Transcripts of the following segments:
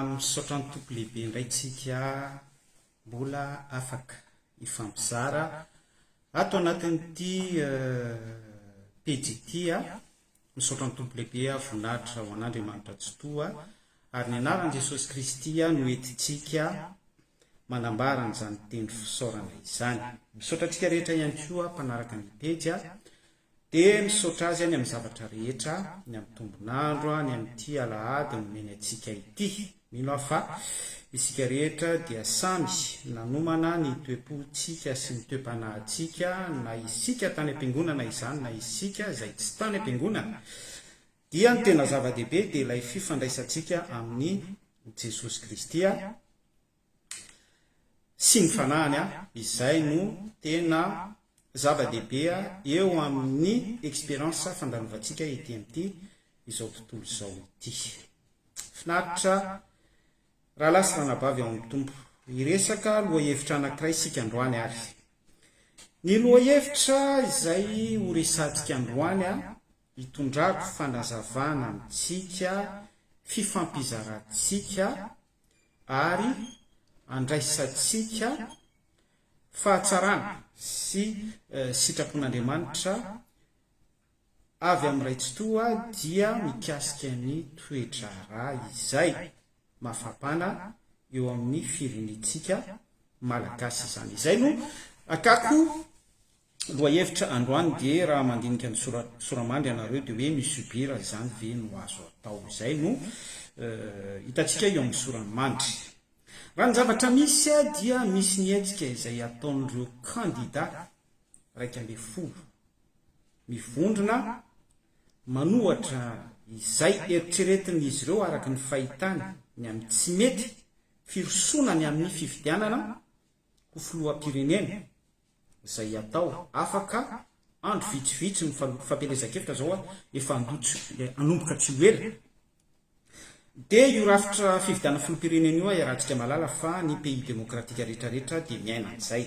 Misaotra ny Tompo lehibe indray tsika mbola afaka hifampizara ato anatin'ity pejy ity a, misaotra ny Tompo lehibe a, voninahitra ho an'Andriamanitra Tsitoha ary ny anaran'i Jesosy Kristy no entintsika manambara an'izany teny fisaorana izany. Misaotra antsika rehetra ihany koa mpanaraka ny pejy a. Dia misaotra azy any amin'ny zavatra rehetra, ny amin'ny tombon'andro, ny amin'ity alahady nomeny antsika ity. Mino aho fa isika rehetra dia samy nanomana ny toe-pontsika sy ny toe-panahintsika, na isika tany am-piangonana izany na isika izay tsy tany am-piangonana, dia ny tena zava-dehibe dia ilay fifandraisantsika amin'i Jesosy Kristy. sy ny fanahiny an, izay no tena zava-dehibe eo amin'ny experience fandalovantsika ety amin'ity izao tontolo izao ity. Finaritra rahalahy sy ranabavy ao amin'ny Tompo, hiresaka lohahevitra anankiray isika androany ary ny lohahevitra izay ho resahantsika androany an, hitondrako fanazavana amintsika, fifampizarantsika ary andraisantsika fahatsarana sy sitrapon'Andriamanitra avy amin'ny Ray Tsitoha dia mikasika ny toe-draharaha izay mafapana eo amin'ny firenentsika Malagasy izany. Izay no akako Lohahevitra androany dia raha mandinika ny soramandry ianareo dia hoe mi subir izany ve no azo atao? Izay no hitantsika eo amin'ny soramandry. Raha ny zavatra misy dia misy ny hetsika izay ataon'ireo kandida iraika ambin'ny folo mivondrona manohatra izay eritreretin'izy ireo araka ny fahitany ny amin'ny tsy mety firosoana ny amin'ny fifidianana ho filoham-pirenena izay atao afaka andro vitsivitsy ny fampielezan-kevitra izao efa hanomboka tsy ho ela dia io rafitra fividianana filoham-pirenena io iarahantsika mahalala fa ny pays demokratika rehetrarehetra dia miaina an'izay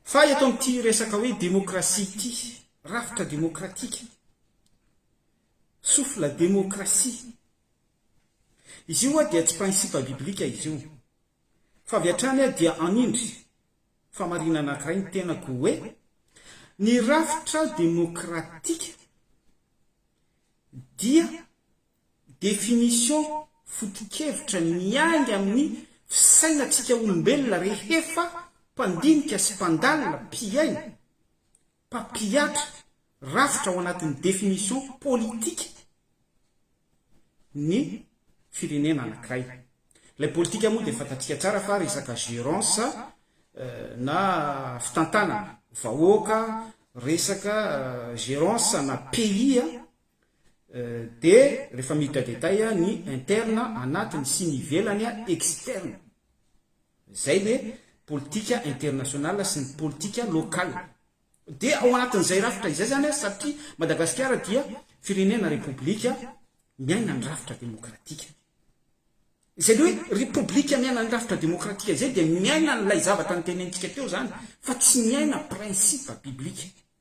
fa eto amin'ity resaka hoe demokrasia ity rafitra demokratika souffle demokrasia izy io dia tsy principe biblique izy io Fa avy hatrany aho dia hanindry famarinana anankiray ny tenako hoe, ny rafitra demokratika dia définition foto-kevitra miainga amin'ny fisainantsika olombelona rehefa mpandinika sy mpandalina, mpihaino, mpampihatra rafitra ao anatin'ny définition politika ny firenena anankiray. Ilay politika moa dia fantatsika tsara fa resaka gérance na fitantanana vahoaka, resaka gérance na pays Dia rehefa miditra détail ny interne anatiny sy ny ivelany externe izay le politika international sy ny politika local dia ao anatin'izay rafitra izay zany satria Madagasikara dia firenena repoblika miaina ny rafitra demokratika izay le hoe repoblika miaina ny rafitra demokratika izay dia miaina an'ilay zavatra notenentsika teo zany fa tsy miaina principe biblika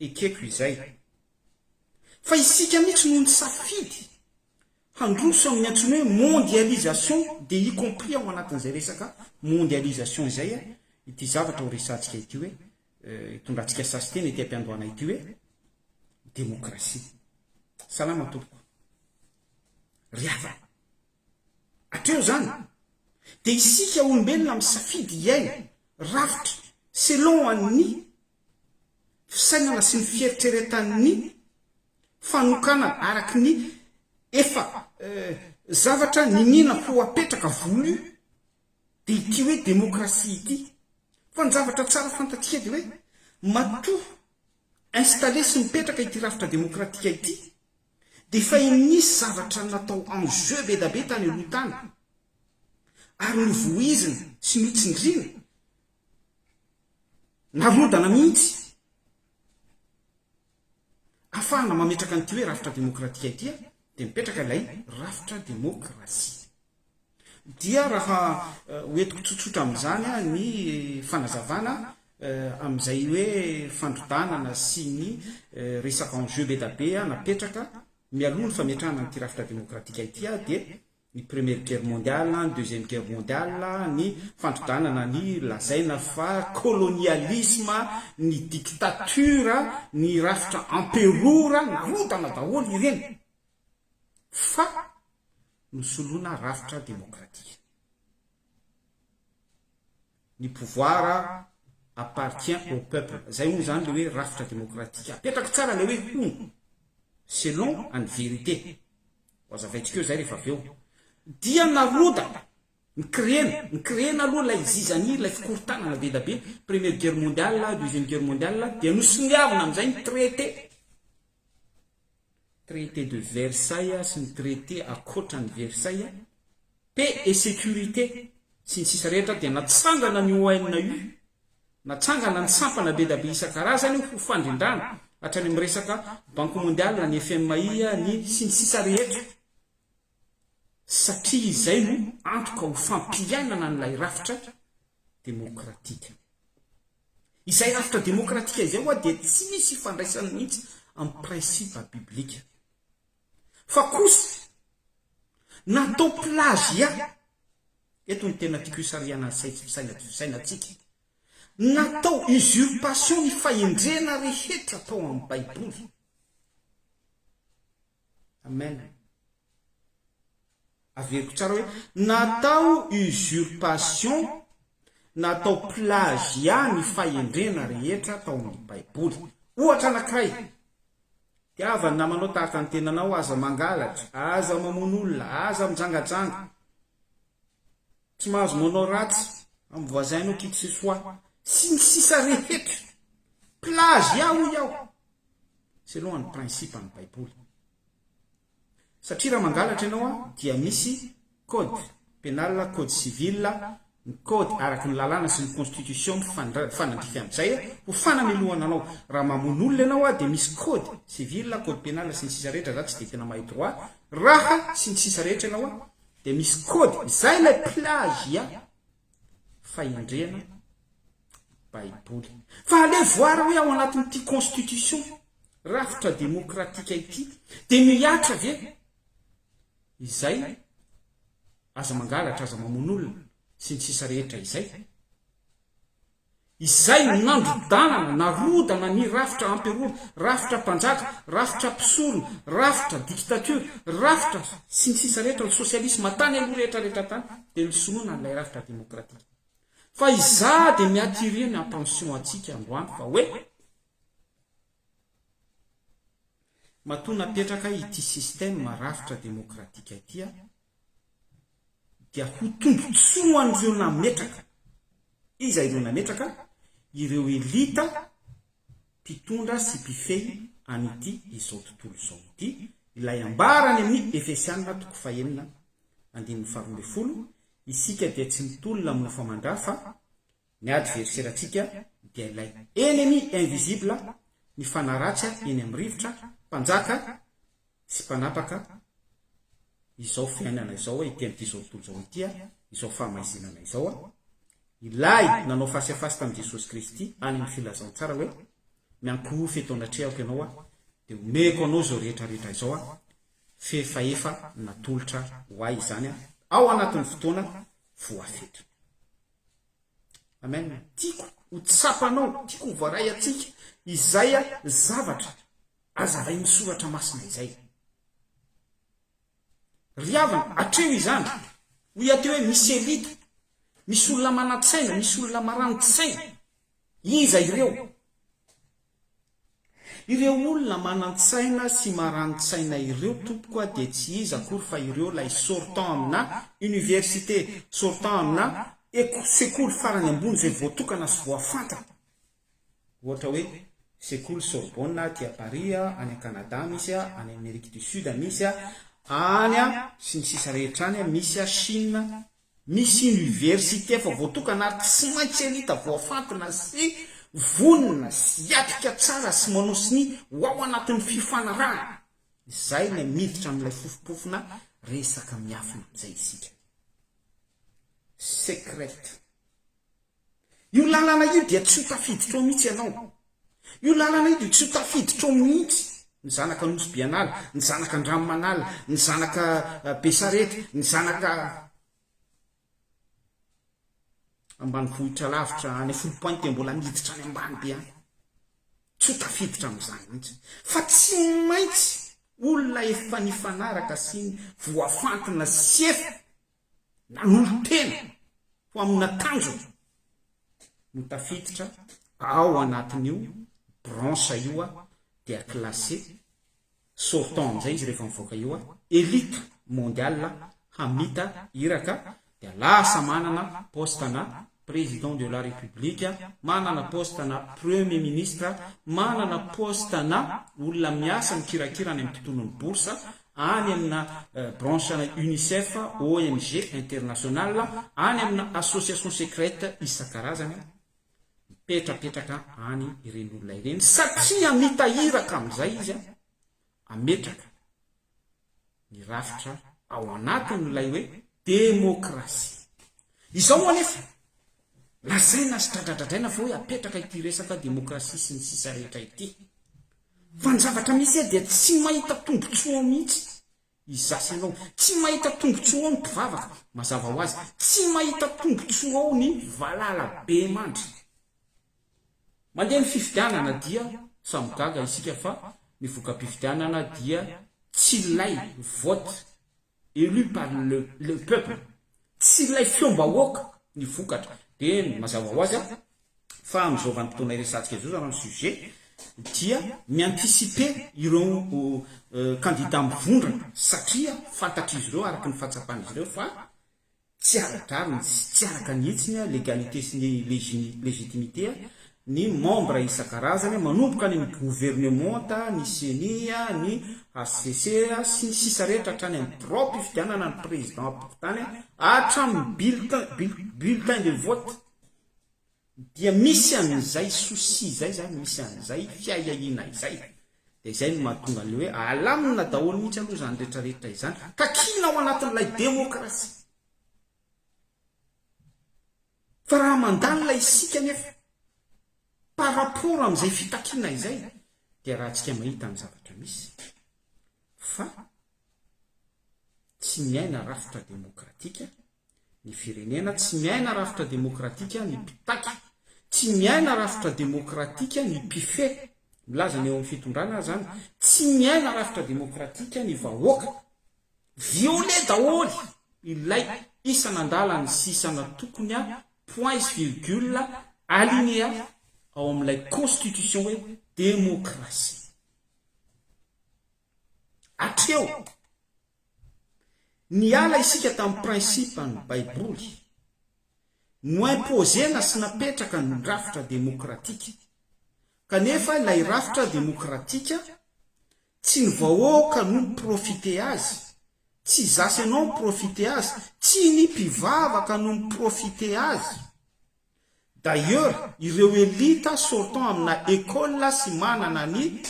ekeko izay. Fa isika mihitsy no nisafidy handroso amin'ny antsoina hoe mondialisation dia y compris ao anatin'izay resaka mondialisation izay ity zavatra ho resahantsika ity hoe hitondratsika sasiteny ety am-piandohana ity hoe demokrasia. Salama tompoko. Ry havana. Hatreo izany. Dia isika olombelona misafidy hiaina rafitra selon an'ny fisainana sy ny fieritreretan'ny fanokanana araky ny efa zavatra niniana ho apetraka, voulu, dia ity hoe demokrasia ity. Fa ny zavatra tsara fantatsika dia hoe matoa installer sy mipetraka ity rafitra demokratika ity dia efa nisy zavatra natao en jeu be da be tany aloha tany ary novoizina sy notsindriana Narodana mihitsy afahana mametraka an'ity hoe rafitra demokratika ity dia mipetraka ilay rafitra demokrasia. Dia raha hoentiko tsotsotra amin'izany ny fanazavana amin'izay hoe fandrodanana sy ny resaka enjeux be dia be napetraka mialoha ny fametrahana an'ity rafitra demokratika ity dia ny Première Guerre Mondiale, ny Deuxième Guerre Mondiale, ny fandrodanana ny lazaina fa kolonialisma, ny dictature, ny rafitra emperora, narodana daholo ireny fa nosoloina rafitra demokratika. ny pouvoir appartient au peuple zay hono zany le hoe rafitra demokratika apetrako tsara le hoe hono selon any vérité ho azavaintsika eo zay rehefa avy eo dia narodana ny créena ny créena aloha lay zizanie lay fikorontanana be da be première guerre mondiale deuxième guerre mondiale dia nosoniavina amizay ny traité Traité de Versailles sy ny traité akoatran'i Versailles, paix et sécurité sy ny sisa rehetra dia natsangana ny ONU, natsangana ny sampana be da be isan-karazany ho fandrindràna, hatrany amin'ny resaka Banque Mondiale, ny FMI, ny sy ny sisa rehetra, satria izay no antoka ho fampiainana an'ilay rafitra demokratika. Izay rafitra demokratika izay ho'a dia tsy misy ifandraisany mihitsy amin'ny principe biblika. Fa kosa, natao plagiat, eto no tena tiako hisarihana ny saintsy mpisaina ity fisainantsika, natao usurpation ny fahendrena rehetra tao amin'ny baiboly. Amen. Averiko tsara hoe natao usurpation natao plagiat ny fahendrena rehetra tao amin'ny Baiboly. Ohatra anankiray, tiava ny namanao tahaka ny tenanao, aza mangalatra, aza mamono olona, aza mijangajanga. tsy mahazo manao ratsy am voisin anao qui que ce soit sy ny sisa rehetra plagiat hoy aho selon any principe any baiboly satria raha mangalatra ianao a dia misy code penal code civil ny code araky ny lalàna sy ny constitution mifanandrify amizay ho fanamelohana anao raha mamono olona ianao a dia misy code civil code penal sy ny sisa rehetra za tsy dia tena mahay droit raha sy ny sisa rehetra ianao a Dia misy kôdy, izay ilay plagiat, fahendrena baiboly. Fa aleo voara hoe ao anatin'ity constitution, rafitra demokratika ity, dia mihatra ve izay aza mangalatra, aza mamono olona, sy ny sisa rehetra izay? Izay no nandrodanana, narodana ny rafitra amperora, rafitra mpanjaka, rafitra mpisorona, rafitra dikitatiora, rafitra, sy ny sisa rehetra, ny sosialisma tany aloha rehetra rehetra tany dia nisonona an'ilay rafitra demokratika. Fa izaho dia mi-attirer ny attention antsika androany fa hoe, matoa napetraka ity système rafitra demokratika ity aho, dia ho tombotsoan'ireo nametraka. Iza ireo nametraka? Ireo elita mpitondra sy mpifehy an'ity izao tontolo izao ity, ilay ambara any amin'ny Efesiana toko fahenina andininy faharoa ambin'ny folo, Isika dia tsy mitolona mofo aman-dra fa Ny adverserantsika dia ilay ennemi invisible, ny fanaratsy eny amin'ny rivotra, mpanjaka sy mpanapaka izao fiainana izao ety amin'ity izao tontolo izao ity, izao fahamaizinana izao. Ilay nanao face à face tamin'i Jesosy Kristy any amin'ny filazantsara hoe, Miankohofa eto anatrehako ianao aho, dia omeko anao izao rehetra rehetra izao aho, f'efaefa natolotra ho ahy izany ao anatin'ny fotoana voafetra. Amen. Tiako ho tsapanao, tiako ho voaray atsika izay zavatra azavain'ny soratra masina izay. Ry havana, atreho izany. Hoy aty hoe misy elita, misy olona manan-tsaina, misy olona marani-tsaina. Iza ireo? Ireo olona manan-tsaina sy marani-tsaina ireo tompoko a dia tsy iza akory fa ireo ilay sortant amina université, sortant amina eko, sekoly farany ambony izay voatokana sy voafantatra. Ohatra hoe sekoly Sorbonne aty a Paris a, any a Canada misy a, any Amerique du Sud misy a, any a sy ny sisa rehetra any a, misy a Chine, Misy oniversite efa voatokana ary tsy maintsy elita voafantina sy vonona sy hiatrika tsara sy manosy ny ho ao anatin'ny fifanarahana izay ilay miditra amin'ilay fofompofona resaka miafina izay isika. Secret. Io lalana io dia tsy ho tafiditra ao mihitsy ianao. Io lalana io dia tsy ho tafiditra ao mihitsy ny zanaka Anosy be an'ala, ny zanaka Andranomanala, ny zanaka Besarety, ny zanaka ambanivohitra lavitra any Foulpointe mbola miditra any ambany be any. Tsy ho tafiditra amin'izany mihitsy. Fa tsy maintsy olona efa nifanaraka sy voafantina sy efa nanolo-tena ho amina tanjona no tafiditra ao anatin'io branche io dia classé sortant amin'izay izy rehefa mivoaka io elite mondiale hamita iraka dia lasa manana poste-na Président de la République, manana poste na Premier Ministre, manana poste na olona miasa mikirakira any amin'ny mpitolon'ny bourse, any amina branche ana Unicef, ONG international, any amina association secrète isan-karazany, mipetrapetraka any ireny olona ireny satria mitahiraka amin'izay izy, ametraka ny rafitra ao anatin'ilay hoe demokrasia. Izao anefa, lazaina sy dradradradraina fa hoe apetraka ity resaka demokrasia sy ny sisa rehetra ity. Fa ny zavatra misy dia tsy mahita tombotsoa mihitsy Izaho sy ianao. Tsy mahita tombontsoa ao ny mpivavaka. Mazava ho azy, tsy mahita tombontsoa ao ny valala bemandry. Mandeha ny fifidianana dia samy gaga isika fa ny voka-pifidianana dia tsy ilay vote élu par le peuple, tsy ilay feom-bahoaka ny vokatra. Dia mazava ho azy, fa amin'izao vanim-potoana iresahantsika izao izany ny sujet dia mi-anticiper ireo kandida mivondrona satria fantatr'izy ireo araka ny fahatsapan'izy ireo fa tsy ara-drariny sy tsy araka ny hitsiny, légalité sy ny légitimité, ny membres isan-karazany manomboka any amin'ny governementa, ny ceni, ny hcc sy ny sisa rehetra hatrany amin'ny biraom-pifidianana ny président ampokotany hatramin'ny bulletin de vote. dia misy an'izay souci izay zany, misy an'izay fiahiahiana izay, dia izay no mahatonga an'ilay hoe alamina daholo mihitsy aloha izany rehetra rehetra izany, ka kiana ao anatin'ilay demokrasia. Fa raha mandalina isika anefa par rapport amin'izay fitakiana izay dia rahantsika mahita ny zavatra misy fa tsy miaina rafitra demokratika Ny firenena tsy miaina rafitra demokratika ny mpitaky, tsy miaina rafitra demokratika ny mpifehy, milaza ny eo amin'ny fitondrana aza an, tsy miaina rafitra demokratika ny vahoaka. Violer daholo ilay isan'andalana sy isan'antokony an, points sy virgule, alinéa ao amin'ilay constitution hoe demokrasia. Hatreo, niala isika tamin'ny principe-n'ny Baiboly, no-imposer-na sy napetraka ny rafitra demokratika, kanefa ilay rafitra demokratika, tsy ny vahoaka no mi-profiter azy, tsy zasy anao mi-profiter azy, tsy ny mpivavaka no mi-profiter azy, D'ailleurs, ireo elite sortant amina école sy manana ny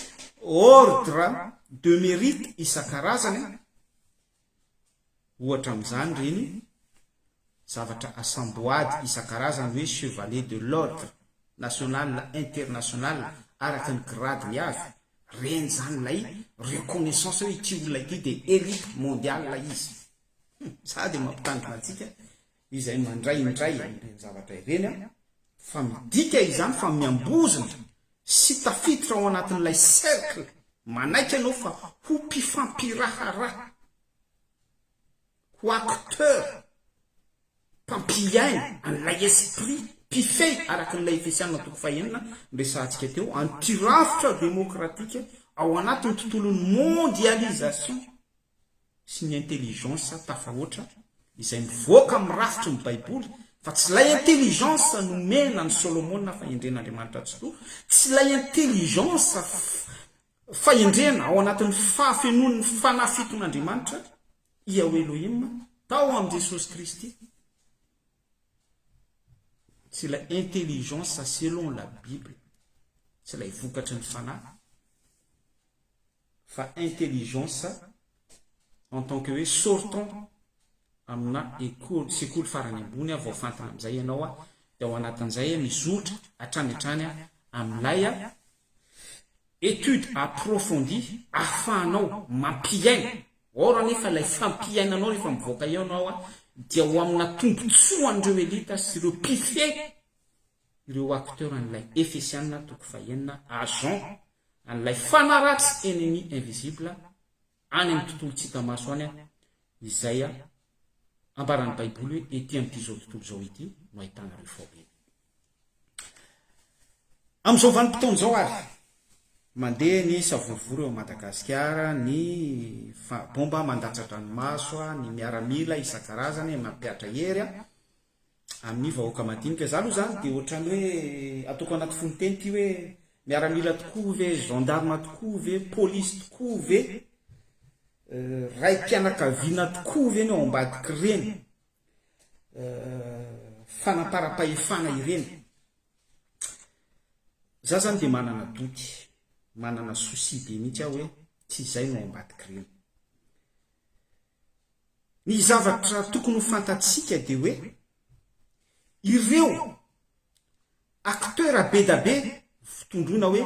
ordres de mérite isan-karazany, ohatra amin'izany ireny zavatra asam-boady isan-karazany hoe Chevalier de l'Ordre National International araka ny gradiny avy, ireny izany ilay reconnaissance hoe ity olona ity dia elite mondiale izy. Humm! Za dia mampitandrina antsika izay mandray indray ireny zavatra ireny an, fa midika izany fa miambozona sy tafiditra ao anatin'ilay cercle manaiky ianao fa ho mpifampiraharaha, ho acteur, mpampiaina an'ilay esprit mpifehy araka an'ilay Efesiana toko fahenina noresahantsika teo, antirafitra demokratika ao anatin'ny tontolon'ny mondialisation. sy ny intelligence tafahoatra izay mivoaka amin'ny rafitry ny baiboly fa tsy ilay intelligence nomena an'i Solomona fahendren'Andriamanitra Tsitoha, tsy ilay intelligence fahendrena ao anatin'ny fahafenoan'ny fanahy fiton'Andriamanitra, Iao Elohim, tao amin'i Jesosy Kristy. Tsy ilay intelligence selon la Bible, tsy ilay vokatry ny fanahy. fa intelligence en tant que hoe sortant amina école sekoly farany ambony vao fantina amizay ianao de ao anatin'izay mizotra hatrany hatrany amilay étude approfondie ahafahanao mampiaina or anefa ilay fampiainanao rehefa mivoaka eo ianao dia ho amina tombotsoan'ireo elite sy ireo mpifehy ireo acteurs an'ilay Efesiana toko fahenina agents an'ilay fanaratsy ennemi invisible any amin'ny tontolo tsy hita maso any izay ambaran'ny baiboly hoe ety amin'ity izao tontolo izao ity no ahitana ireo fahoriana amin'izao vanim-potoana izao ary mandeha ny savorovoro eo Madagasikara ny bomba mandatsa-dranomaso ny miaramila isan-karazany mampihatra hery amin'ny vahoaka madinika. Za aloha zany dia ohatrany hoe ataoko anaty fononteny ity hoe miaramila tokoa ve, gendarme tokoa ve, police tokoa ve, raim-pianakaviana tokoa ve ny ao ambadik'ireny fanamparam-pahefana ireny. Za zany dia manana doute, manana souci be mihitsy aho hoe tsy izay no ao ambadik'ireny. Ny zavatra tokony ho fantatsika dia hoe ireo acteurs be da be fitondroina hoe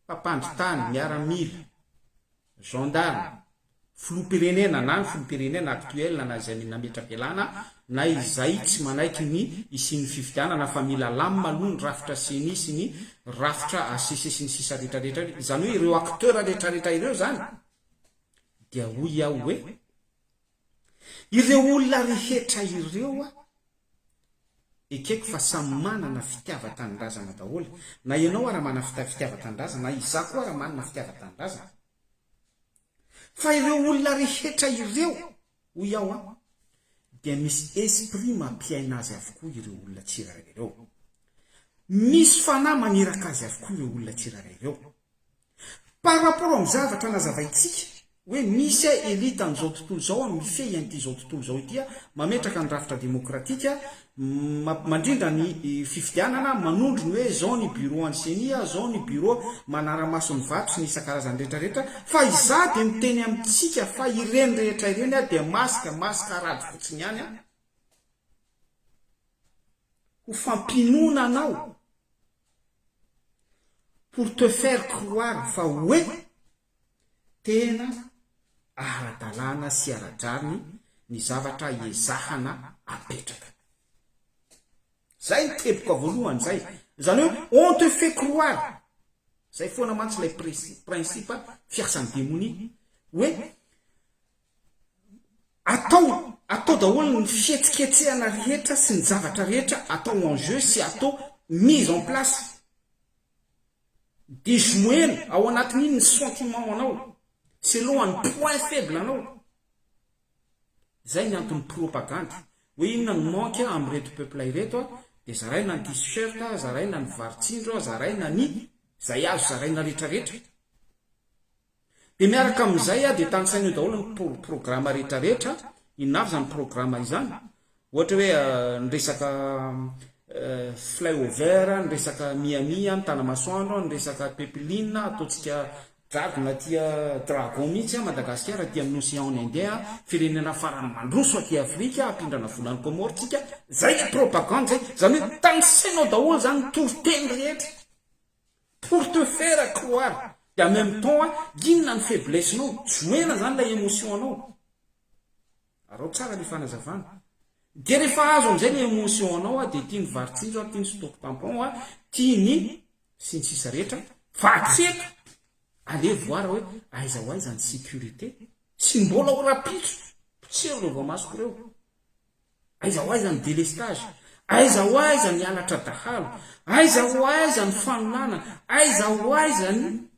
mpampandry tany, miaramila, gendarme, filoham-pirenena na ny filoham-pirenena actuel na izay nametra-pialana na izay tsy manaiky ny hisian'ny fifidianana fa mila lamina aloha ny rafitra ceni sy ny rafitra hcc sy ny sisa rehetra rehetra izany hoe ireo acteurs rehetra rehetra ireo izany Dia hoy aho hoe, Ireo olona rehetra ireo a! Ekeko fa samy manana fitiavan-tanindrazana daholo, na ianao ara manana fitiavan-tanindrazana, na izaho koa ara manana fitiavan-tanindrazana. Fa ireo olona rehetra ireo hoy aho an, dia misy esprit mampiaina azy avokoa ireo olona tsirairay ireo. Misy fanahy maniraka azy avokoa ireo olona tsirairay ireo. Par rapport amin'ny zavatra nazavaintsika hoe misy elite an'izao tontolo izao mifehy an'ity izao tontolo izao ity, mametraka ny rafitra demokratika, Mandrindra ny fifidianana, manondro ny hoe izao ny bureau an'ny ceni, izao ny bureau manara-maso ny vato sy ny isan-karazany rehetra rehetra, fa izaho dia miteny amintsika fa ireny rehetra ireny dia masque, mascarade fotsiny ihany, ho fampinoana anao, pour te faire croire fa hoe Tena ara-dalàna sy ara-drariny ny zavatra ezahana apetraka. Zay ny teboka voalohany zay. Zany hoe on te fait croire, zay foana mantsy lay principe fiasan'ny demonia, hoe atao atao daholo ny fihetsiketsehana rehetra sy ny zavatra rehetra atao en jeu sy atao mise en place. Diso moelo ao anatin'iny ny sentiment anao, selon ny point faible anao. Zay ny anton'ny propagandy. Hoe inona ny manque amin'ireto peuple ireto, dia zaraina ny t-shirt, zaraina ny vary tsindro, zaraina ny, zay azo zaraina retraretra. Dia miaraka amin'izay dia tanisaina eo daholo ny programa rehetra rehetra, inona avy izany programa izany? Ohatra hoe ny resaka flyover, ny resaka Miami an, Tanamasoandro an, ny resaka pipeline, ataontsika jadona aty dragon mihintsy an Madagasikara aty amin'ny ocean ny indien an, firenena farany mandroso aty Afrika, hampindrana vola any Comore tsika, izay ilay propagande izay, izany hoe tanisaina ao daholo izany ny toriteny rehetra. Pour te faire croire et en même temps inona ny faiblesse nao, joena zany ilay emotion anao. Araho tsara ny fanazavana. Dia rehefa azo amin'izay ny emotion anao a, dia tia ny varitsinjo a, tia ny stop tampon a, tia ny sy ny sisa rehetra, fa atsy eto allez voir hoe aiza ho aiza ny sécurité, tsy mbola ho rahampitso, potsero ireo voamasoko ireo. Aiza ho aiza ny délestage? Aiza ho aiza ny halatra dahalo? Aiza ho aiza ny fanonana? Aiza ho aiza ny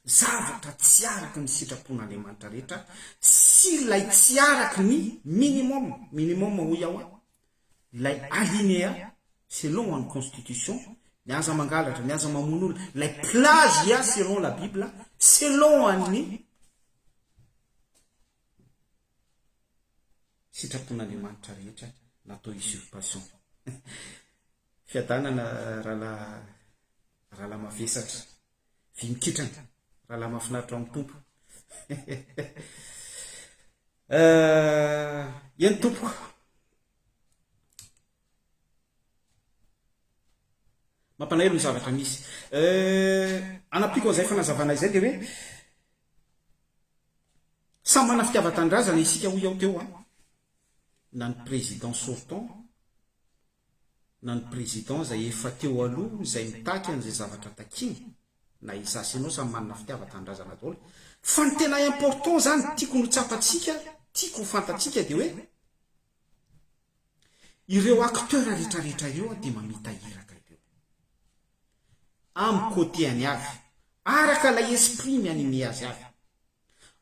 zavatra tsy araka ny sitrapon'Andriamanitra rehetra sy ilay tsy araka ny minimum, minimum hoy aho an, ilay alinéa selon ny constitution, ny aza mangalatra, ny aza mamono olona, ilay plagiat selon la bible, selon ny Sitrapon'Andriamanitra rehetra natao usurpation. Fiadanana rahalahy rahalahy mavesatra. Vy mikitrana. Rahalahy mahafinaritra ao amin'ny Tompo. Eny tompoko. Mampalahelo ny zavatra misy. Euh, anampiako an'izay fanazavana izay dia hoe, samy manana fitiavan-tanindrazana isika hoy aho teo an, na ny président sortant, na ny président izay efa teo aloha izay mitaky an'izay zavatra takiany, na izaho sy ianao samy manana fitiavan-tanindrazana daholo. Fa ny tena important izany, tiako no tsapantsika, tiako ho fantatsika dia hoe, Ireo acteurs retraretra ireo dia mamita iraka ireo. Am côté any avy. Araka ilay esprit mi-animer azy avy.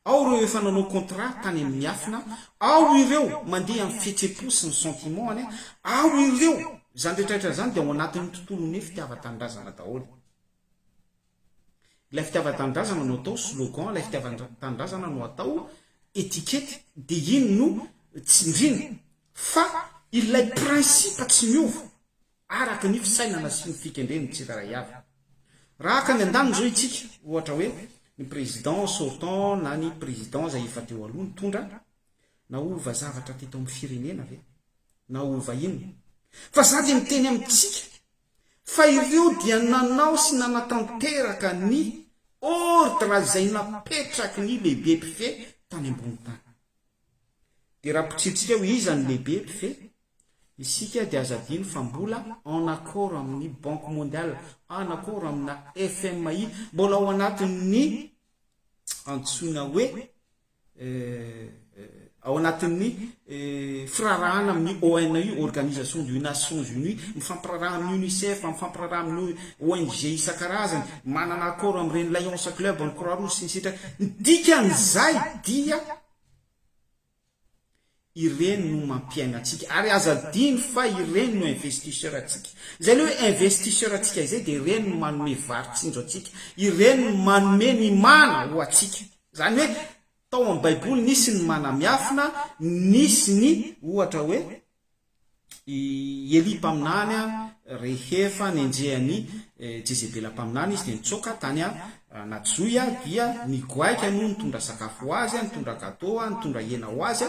Ao ireo efa nanao contrat tany amin miafina, ao ireo mandeha am fihetsem-po sy ny sentiment any, ao ireo, izany retraretra izany dia ao anatin ny tontolon ny fitiavan-tanindrazana daholo. Ilay fitiavan-tanindrazana no atao slogan, ilay fitiavan-tanindrazana no atao étiquette, dia iny no tsindriana. Fa ilay principe tsy miova araka ny fisainana sy ny fikendren'ny tsirairay avy. Raha haka any an-daniny izao isika, ohatra hoe ny président sortant na ny président izay efa teo aloha nitondra, naova zavatra teto amin'ny firenena ve? Naova inona? Fa izaho dia miteny amintsika, fa ireo dia nanao sy nanatanteraka ny ordra izay napetraky ny lehibe mpifehy tany ambony tany. Dia raha potsihintsika eo iza no lehibe mpifehy, isika dia aza adino fa mbola en accord amin'ny Banque Mondiale, en accord amina FMI, mbola ao anatin'ny antsoina hoe ao anatin'ny firarahana amin'ny ONU, Organisation du Nations Unies, mifampiraraha amin'ny UNICEF, mifampiraraha amin'ny ONG isan-karazany, manana accord amin'ireny Lions Club, amin'ny Croix Rouge sy ny sisa. Ny dikan'izay dia Ireny no mampiaina antsika ary aza adino fa ireny no investisseur ntsika. Izay le hoe investisseur antsika izay dia ireny no manome vary tsinjo antsika, ireny no manome ny mana ho antsika. Izany hoe tao amin'ny baiboly nisy ny mana miafina, nisy ny ohatra hoe. I Elia mpaminany, rehefa nenjehan'i Jezebela mpaminany izy, dia nitsoaka tany anaty zohy, dia nigoaika no nitondra sakafo ho azy, nitondra gato, nitondra hena ho azy,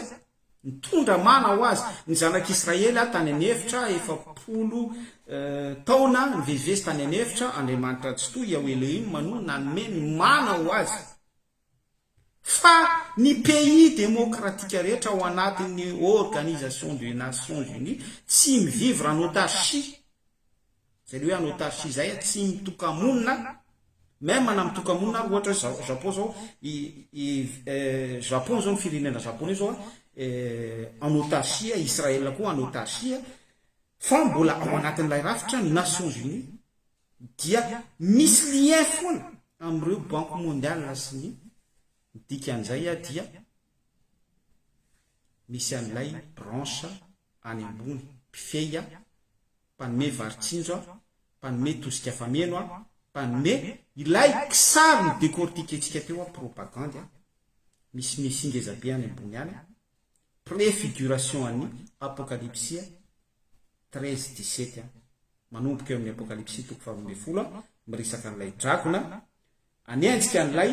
nitondra mana ho azy. Ny zanak'Israely tany an'efitra, efapolo taona nivezivezy tany an'efitra, Andriamanitra Tsitoha, Iaoelohima, no nanome ny mana ho azy. Fa ny pays demokratika rehetra ao anatin'ny organisation des nations unies tsy mi vivre en autarchie, zay le hoe en autarchie zay a, tsy mitoka-monina, même na mitoka-monina ary ohatra hoe Japon zao, i i Japon zao ny firenena Japoney zao en autarchie, Israël koa en autarchie, fa mbola ao anatin'ilay rafitra ny nations unies. Dia misy lien foana amin'ireo banque mondiale sy ny ny dikan'izay ah dia misy an'ilay branche any ambony mpifehy ah mpanome varitsinjo ah mpanome tosika fameno ah mpanome ilay kisary ny decortiquentsika teo ah propagande ah misy mesia ngezabe any ambony any prefiguration an'ny apokalipsy ah treize dix sept an, manomboka eo amin'ny Apokalypsy toko faharoa ambin'ny folo an, miresaka an'ilay dragona, Aniantsika an'ilay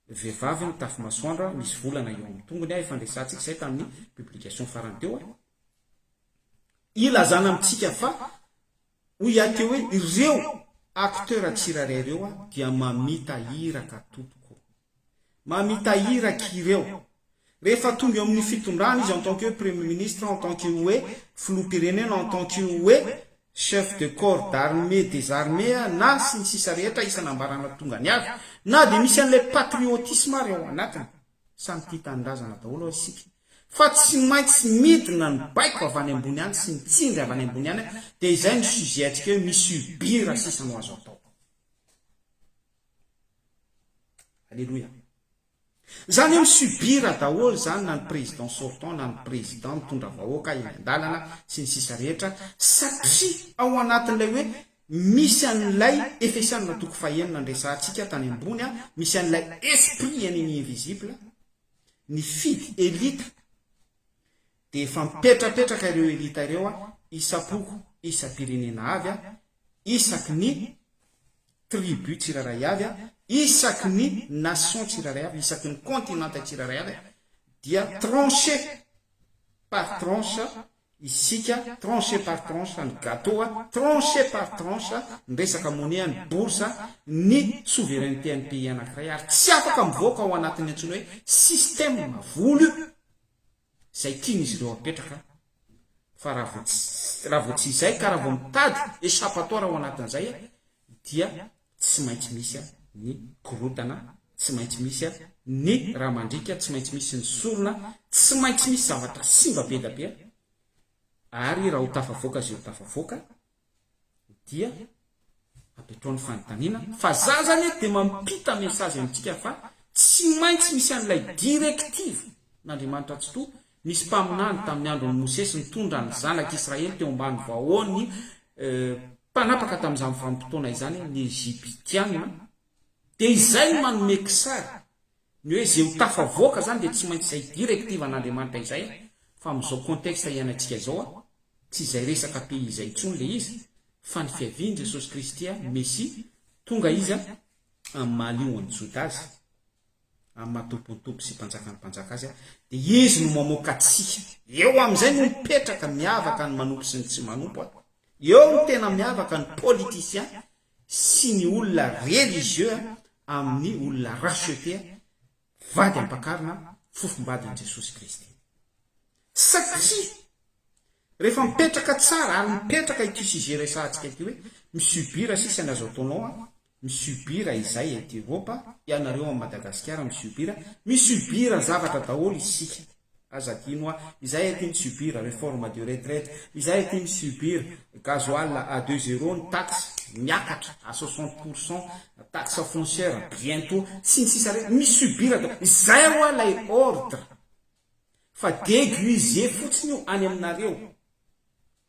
vehivavy mitafy masoandra misy volana eo amin'ny tongony an, efa niresahantsika izay tamin'ny publication farany teo an, ilazana amintsika fa hoy Yahty hoe, ireo acteurs tsirairay ireo dia mamita iraka tompoko. mamita iraka ireo. Rehefa tonga eo amin'ny fitondrana izy en tant que Premier Ministre, en tant que hoe Filoham-pirenena, en tant que hoe Chef de Corps d'Armée des Armées na sy ny sisa rehetra isan'ambarana tongany avy, na dia misy an'ilay patriotisme ary ao anatiny. Samy tia tanindrazana daholo hoy isika. Fa tsy maintsy midina ny baiko avy any ambony any sy ny tsindry avy any ambony any dia izay no sujet antsika hoe mi-subir sisa no azo atao. Aleloia. Zany hoe mi-subir daholo zany na ny président sortant na ny président mitondra vahoaka eny an-dalana sy ny sisa rehetra satria ao anatin'ilay hoe misy an'ilay Efesianina toko fahenina niresahantsika tany ambony a, misy an'ilay esprit ennemi invisible nifidy elita Dia efa mipetrapetraka ireo elita ireo a, isam-poko, isam-pirenena avy a, isaky ny tribu tsirairay avy a, isaky ny nation tsirairay avy, isaky ny continente tsirairay avy a, dia trancher par tranche isika, trancher par tranche ny gateau a, trancher par tranche ny resaka monnaie, ny bourse, ny souveraineté an'ny pays anankiray ary tsy afaka mivoaka ao anatin'ny antsoina hoe système vola io. izay tian'izy ireo apetraka fa raha vao tsy raha vao tsy izay ka raha vao mitady échappatoire ao anatin'izay dia tsy maintsy misy ny korontana, tsy maintsy misy ny ra mandriaka, tsy maintsy misy ny sorona, tsy maintsy misy zavatra simba be da be ary raha ho tafavoaka izay ho tafavoaka. dia apetrao ny fanontaniana fa za zany eto dia mampita message amintsika fa tsy maintsy misy an'ilay directive n'Andriamanitra Tsitoha nisy mpaminany tamin'ny andron'i Mosesy nitondra ny zanak'i Israely teo ambany vahoan'ny mpanapaka tamin'izany vanim-potoana izany ny Egyptiana dia izay no manome kisary Ny hoe izay ho tafavoaka izany dia tsy maintsy izay directive an'Andriamanitra izay fa amin'izao contexte iainantsika izao a, tsy izay resaka pays izay intsony ilay izy fa ny fiavian'i Jesosy Kristy a, Mesia, tonga Izy a, amin'ny maha Lionan'ny Joda Azy, amin'ny maha Tompon'ny Tompo sy Mpanjakan'ny mpanjaka Azy a, dia Izy no mamoaka antsika. Eo amin'izay no mipetraka miavaka ny manompo sy ny tsy manompo a. Eo no tena miavaka ny politiciens sy ny olona religieux amin'ny olona racheter, vady ampakarina, fofombadin'i Jesosy Kristy. Satria rehefa mipetraka tsara ary mipetraka ity sujet resahantsika ity hoe mi-subir sisa ny azo ataonao an, mi-subir izay ety Eropa, ianareo any Madagasikara mi-subir, mi-subir zavatra daholo isika. Aza adino hoa, izahay aty mi subir reforme de retraite, izahay aty mi subir gasoil à deux euros, ny taxe miakatra à soixante pour cent, taxe foncière bientot, sy ny sisa re, mi subir da, izay hoa ilay ordre, fa deguiser fotsiny io any aminareo,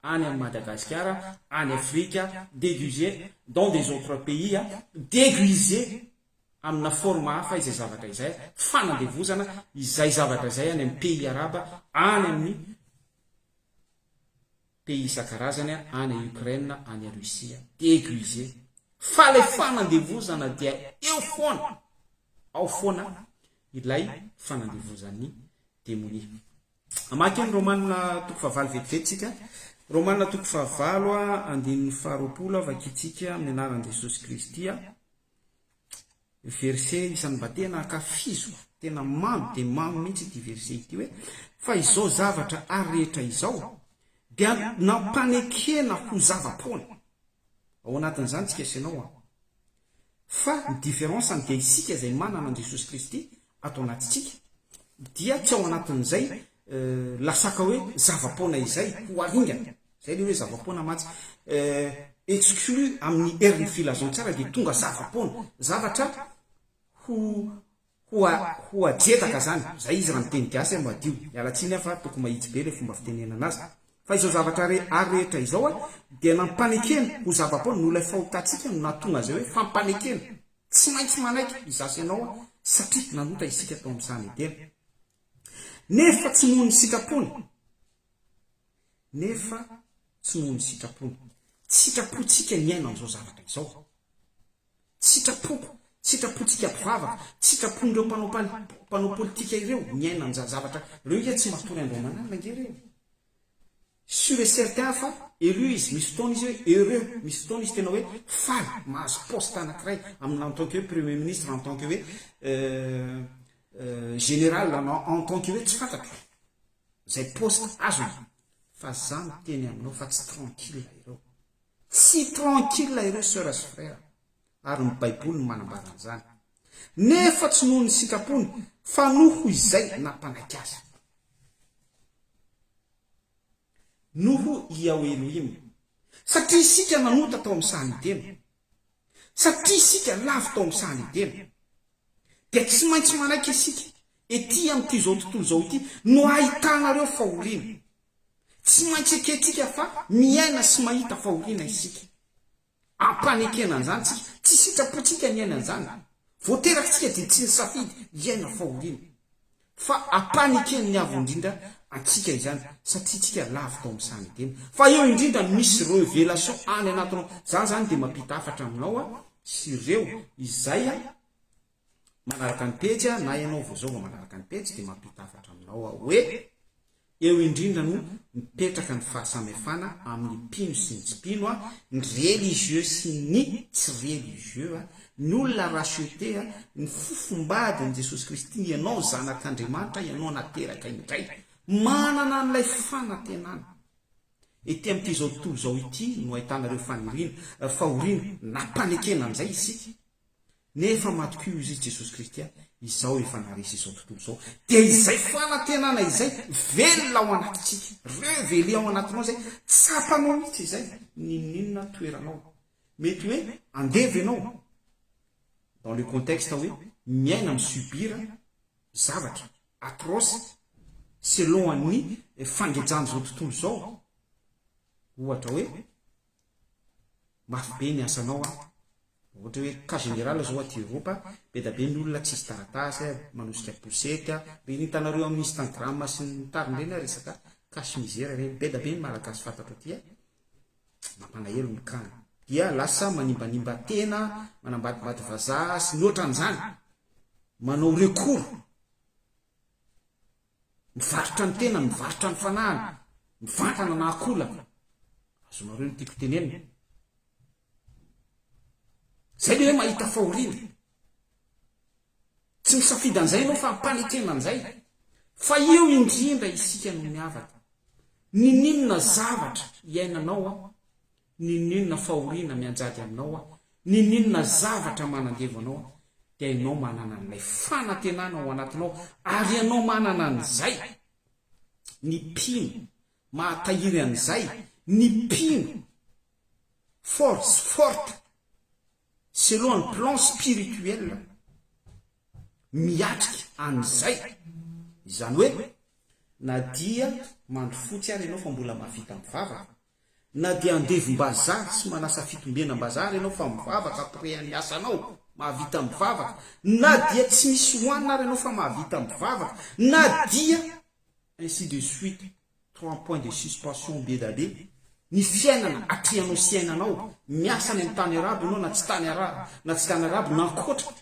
any am Madagasikara, any Afrika, deguiser dans des autres pays, deguiser. amina forme hafa izay zavatra izay, fanandevozana izay zavatra izay any amin'ny pays araba, any amin'ny pays isan-karazany, any Ukraine, any Russie, aiguiser, fa ilay fanandevozana dia eo foana, ao foana ilay fanandevozan'ny demonia. Hamaky ny Romanina toko fahavalo vetivety isika. Romanina toko fahavalo, andininy faharoapolo, vakintsika amin'ny anaran'i Jesosy Kristy. Verse isan'ny mba tena ankafiziko, tena mamy dia mamy mihitsy ity verse ity hoe, fa izao zavatra ary rehetra izao dia nampanekena ho zava-poana. Ao anatin'izany tsika sy ianao an! Fa ny différence-ny dia isika izay manana an'i Jesosy Kristy ato anatintsika dia tsy ao anatin'izay Euh, lasaka hoe zava-poana izay ho aringana zay le hoe zava-poana mantsy euh, exclu amin'ny herin'ny filazantsara dia tonga zava-poana zavatra ho ho ajetaka zany zay izy raha miteny gasy a madio mialatsiny aho fa toko mahitsy be le fomba fitenenana azy fa izao zavatra re ary rehetra izao a dia nampanekena ho zava-poana no ilay fahotantsika no nahatonga zay hoe fampanekena tsy maintsy manaiky izasy ianao a satria nanota isika tao amin'ny sany edena Nefa tsy noho ny sitrapony. Nefa tsy noho ny sitrapony. Tsy sitrapontsika ny hiaina an'izao zavatra izao. Tsy sitrapoko, tsy sitrapontsika mpivavaka, tsy sitrapon'ireo mpanao mpanao politika ireo ny hiaina an'izany zavatra ireo ange tsy matory Andriamanana ange ireo. Sur et certain fa heureux izy, misy fotoana izy hoe heureux, misy fotoana izy tena hoe faly mahazo poste anankiray amin'ny en tant que hoe premier ministre, en tant que hoe général na en tant que hoe tsy fantatro izay poste azony fa za miteny aminao fa tsy tranquille ireo, tsy tranquille ireo soeurs sy frères ary ny baiboly no manambara an'izany nefa tsy noho ny sitrapony fa noho izay nampanaiky azy. noho i ao Elohim, satria isika nanota tao amin'ny sahan'i Edena, satria isika lavo tao amin'ny sahan'i Edena, dia tsy maintsy manaiky isika ety amin'ity izao tontolo izao ity no hahitana ireo fahoriana. Tsy maintsy ekentsika fa miaina sy mahita fahoriana isika. Ampanekena an'izany isika. Tsy sitrapontsika ny hiaina an'izany. Voateraka isika dia tsy nisafidy hiaina fahoriana. Fa ampanekeny avo indrindra antsika izany satria isika lavo tao amin'ny sahan'i Edena. Fa eo indrindra no misy revelation any anatinao. Za zany dia mampita hafatra aminao sy ireo izay. manaraka ny pejy a na ianao vao zao vao manaraka ny pejy dia mampita hafatra aminao aho hoe eo indrindra no mipetraka ny fahasamihafana amin'ny mpino sy ny tsy mpino a ny religieux sy ny tsy religieux a ny olona racheté a ny fofombady an'i jesosy kristy ianao zanak'andriamanitra ianao nateraka indray manana an'ilay fanantenana ety amin'ity izao tontolo izao ity no ahitana ireo faniriana fahoriana nampanekena an'izay isika Nefa matokio izy i Jesosy Kristy a, izao efa naharesy izao tontolo izao, dia izay fanantenana izay velona ao anatintsika, reveler ao anatinao izay, tsapanao mihitsy izay n'inon'inona toeranao. Mety hoe andevo ianao, dans le contexte hoe miaina mi-subir zavatra atroce selon an'ny fangejan'izao tontolo izao, ohatra hoe Mafy be ny asanao an! Ohatra hoe cas général zao aty Europe be da be ny olona tsisy taratasy an, manosika poussette an, reny hitanareo amin'ny Instagram sy ny tariny reny an resaka cas misère reny, be da be ny malagasy fantatro aty an! Mampalahelo ny cas-ny. Dia lasa manimbanimba tena, manambadimbady vazaha sy ny ohatran'izany! Manao recours! Mivarotra ny tenany, mivarotra ny fanahiny, mivantana na akolana. Azonareo ny tiako tenenina? Zay le hoe mahita fahoriana. Tsy misafidy an'izay ianao fa ampanekena an'izay. Fa eo indrindra isika no miavaka. Nininona zavatra iainanao an? N'inon'inona fahoriana mianjady aminao aho, n'inon'inona zavatra manandevo anao aho, dia ianao manana an'ilay fanantenana ao anatinao, ary ianao manana an'izay. Ny mpino mahatahiry an'izay, ny mpino fort, forte, selon ny plan spirituel, miatrika an'izay. Izany hoe, na dia mandry fotsy ary ianao fa mbola mahavita mivavaka, Na dia andevim-bazaha sy manasa fitombenam-bazaha ary ianao fa mivavaka après an'ny asanao, mahavita mivavaka, na dia tsy misy hohanina ary ianao fa mahavita mivavaka, na dia. Ainsi de suite, trois points de suspension be da be, ny fiainana atrehanao sy iainanao, miasa any amin'ny tany arabo ianao na tsy tany arabo, na tsy tany arabo, na ankoatra,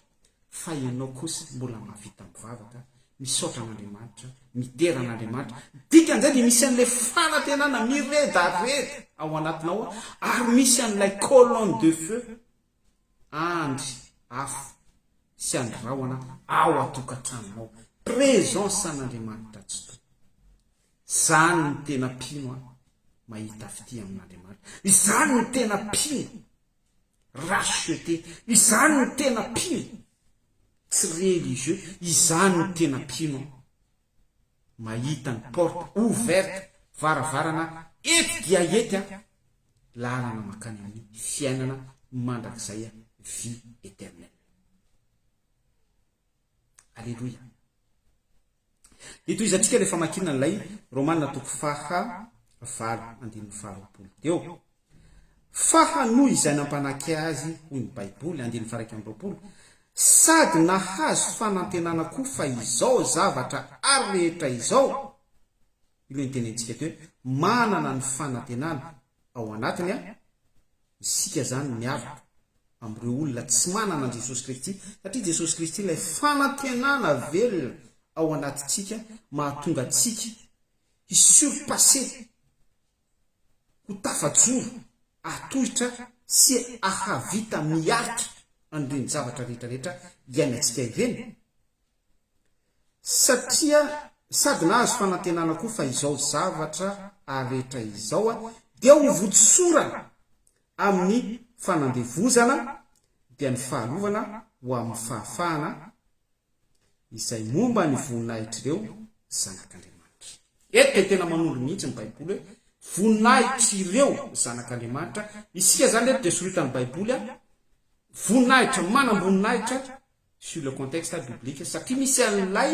fa ianao kosa mbola mahavita mivavaka, misaotra an'Andriamanitra, midera an'Andriamanitra, dikan'izay dia misy an'ilay fanantenana miredareda ao anatinao ary misy an'ilay colonne de feu, andry afo sy andry rahona ao an-tokantranonao, présence an'Andriamanitra tsy tokana. Izany no tena mpino an, mahita fitia amin'Andriamanitra. Izany no tena mpino. Rachete, izany no tena mpino? Tsy religieux, izany no tena mpino aho. Mahita ny porte ouverte, varavarana ety dia ety aho, lalana makany amin'ny fiainana mandrakizay, vie eternelle. Aleloia. Dia tohizantsika ilay famakiana an'ilay Romana toko faha valo andininy faharoapolo. Dia eo. Fa hanohy izay nampanake azy, hoy ny Baiboly, andininy faharaika amby roapolo, sady nahazo fanantenana koa fa izao zavatra ary rehetra izao, io ilay nitenentsika teo, manana ny fanantenana ao anatiny, Isika izany miaraka amin'ireo olona tsy manana an'i Jesosy Kristy, satria Jesosy Kristy ilay fanantenana velona ao anatintsika mahatonga antsika hi-surpasser, ho tafajoro, hatohitra sy hahavita miaritra an'ireny zavatra rehetra rehetra iainantsika ireny, Satria sady nahazo fanantenana koa fa izao zavatra aretra izao dia ho votsorana amin'ny fanandevozana dia ny fahalovana ho amin'ny fahafahana izay momba ny voninahitr'ireo zanak'Andriamanitra. Eto dia tena manondro mihitsy ny Baiboly hoe voninahitr'ireo zanak'Andriamanitra, isika izany eto dia soritan'ny Baiboly voninahitra manam-boninahitra, sur le contexte biblique satria misy an'ilay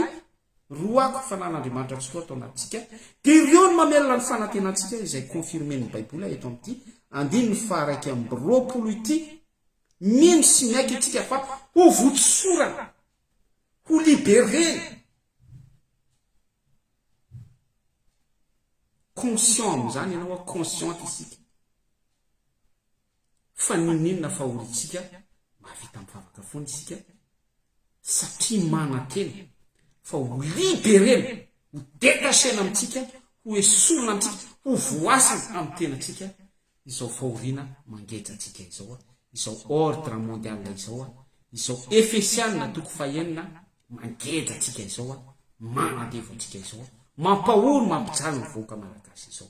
roako fanan'Andriamanitra tsy roa tao anatintsika dia ireo no mamelona ny fanantenantsika izay confirmen'ny Baiboly eto amin'ity andininy faha-iraika amby roapolo ity mino sy miaiky antsika fa ho votsosorana ho liberena conscient amin'izany ianao consciente isika fa ninoninona fa olontsika mahavita mivavaka foana isika satria manantena fa ho liberena, ho detachena amintsika, ho esorina antsika, ho voasana amin'ny tenatsika izao fahoriana mangeja antsika izao, izao ordre mondial izao, izao Efesiana toko fahenina mangeja antsika izao, manandevo antsika izao, mampahory mampijaly ny vahoaka malagasy izao.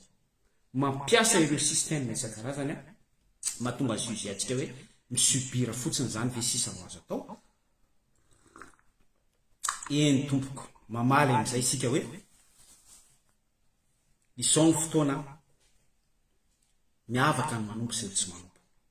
mampiasa ireo système isan-karazany an, mahatonga azy io izay antsika hoe mi-subir fotsiny izany ve sisa no azo atao? Eny tompoko, mamaly amin'izay isika hoe izao ny fotoana an, miavaka ny manompo sy ny tsy manompo.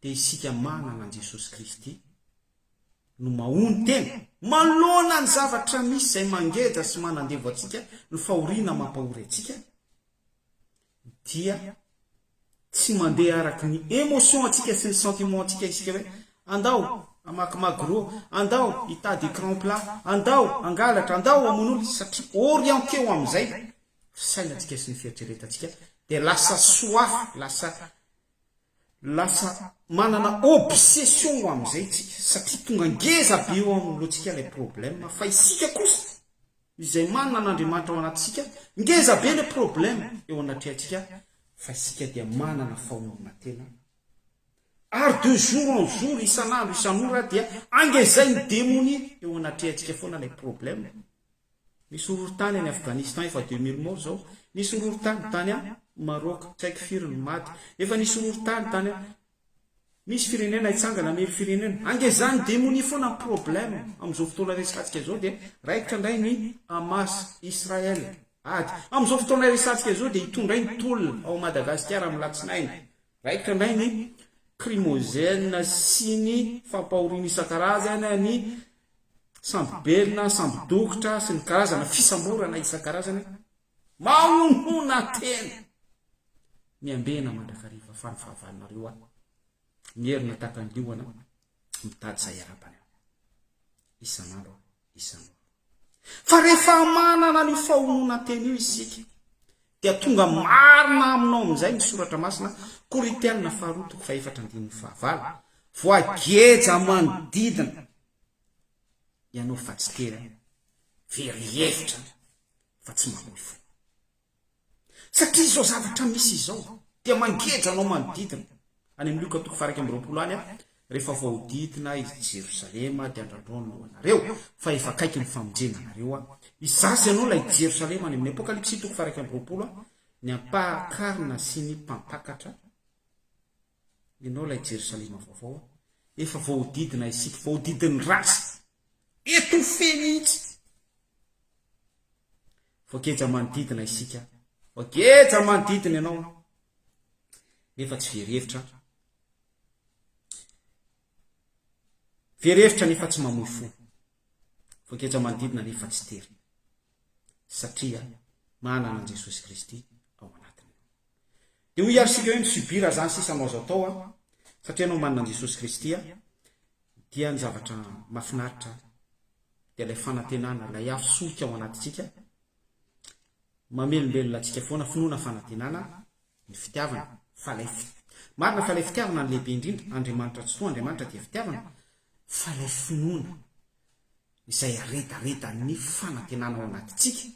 dia isika manana an'i Jesosy Kristy no mahono tena manoloana ny zavatra misy izay mangeja sy manandevo antsika ny fahoriana mampahory antsika dia tsy mandeha araka ny émotion antsika sy ny sentiment antsika isika hoe andao amaky magro andao hitady écran plat andao angalatra andao amon'olo satria orienté ho amin'izay fisainantsika sy ny fieritreretantsika dia lasa soa lasa Lasa manana obsession amin'izay isika satria tonga ngeza be eo amin'ny lohantsika ilay problème fa isika kosa izay manana an'Andriamanitra ao anatintsika ngeza be ilay problème eo anatrehantsika fa isika dia manana fahonona tena ary de jour en jour isan'andro isan'ora dia angezain'ny demonia eo anatrehantsika foana ilay problème Misy horohorontany any Afghanistan efa deux mille morts zao, nisy horohorontany tany an Maroc, tsy haiko firy ny maty, efa nisy horohorontany tany an Misy firenena hitsangana hamely firenena, ange izany demonia foana ny problème amin'izao fotoana resatsika izao dia raikitra indray ny Hamas, Israël, ady amin'izao fotoana resatsika izao dia hitondra ny tolona ao Madagasikara amin'ny latsinainy, raikitra indray ny crimogène sy ny fampahoriana isan-karazany ny sambobelona, sambodokotra sy ny karazana fisamborana isan-karazany, mahonhona tena! Miambena mandrakariva fa ny fahavalonareo aho, mierona tahaka ny liona mitady izay harapany aho, isan'andro isan'ora. Fa rehefa manana an'io fahononantena io isika, Dia tonga marina aminao amin'izay ny soratra masina, Korintiana faharoa toko fahefatra andininy fahavalo, Voageja manodidina ianao fa tsy tera, very hevitra fa tsy mamoy fo. Satria izao zavatra misy izao dia mangeja anao manodidina. Any amin'ny Lioka toko faha iraika amby roapolo any, Rehefa voahodidina i Jerosalema dia andrandrò ny lohanareo, fa efa akaiky ny famonjena anareo aho. Hizaza ianao ilay Jerosalema any amin'ny Apokalypsy toko faha-iraika amby roapolo a. Ny ampahan-karona sy ny mpantakatra, ianao ilay Jerosalema vaovao a. Efa voahodidina isika, voahodidin'ny ratsy. Étouffé mihitsy. Voageja manodidina isika. Voageja manodidina ianao. Nefa tsy very hevitra Very hevitra nefa tsy mamoy fo. Voageja manodidina nefa tsy terina. Satria manana an'i Jesosy Kristy ao anatiny. Dia hoy isika hoe mi-subir izany sisa no azo atao an. Satria ianao manana an'i Jesosy Kristy dia ny zavatra mahafinaritra dia ilay fanantenana, ilay afo solika ao anatintsika mamelombelona antsika foana, finoana fanantenana ny fitiavana, fa ilay fi, marina fa ilay fitiavana no lehibe indrindra, Andriamanitra tsy roa, Andriamanitra dia fitiavana, fa ilay finoana izay aredaredan'ny fanantenana ao anatintsika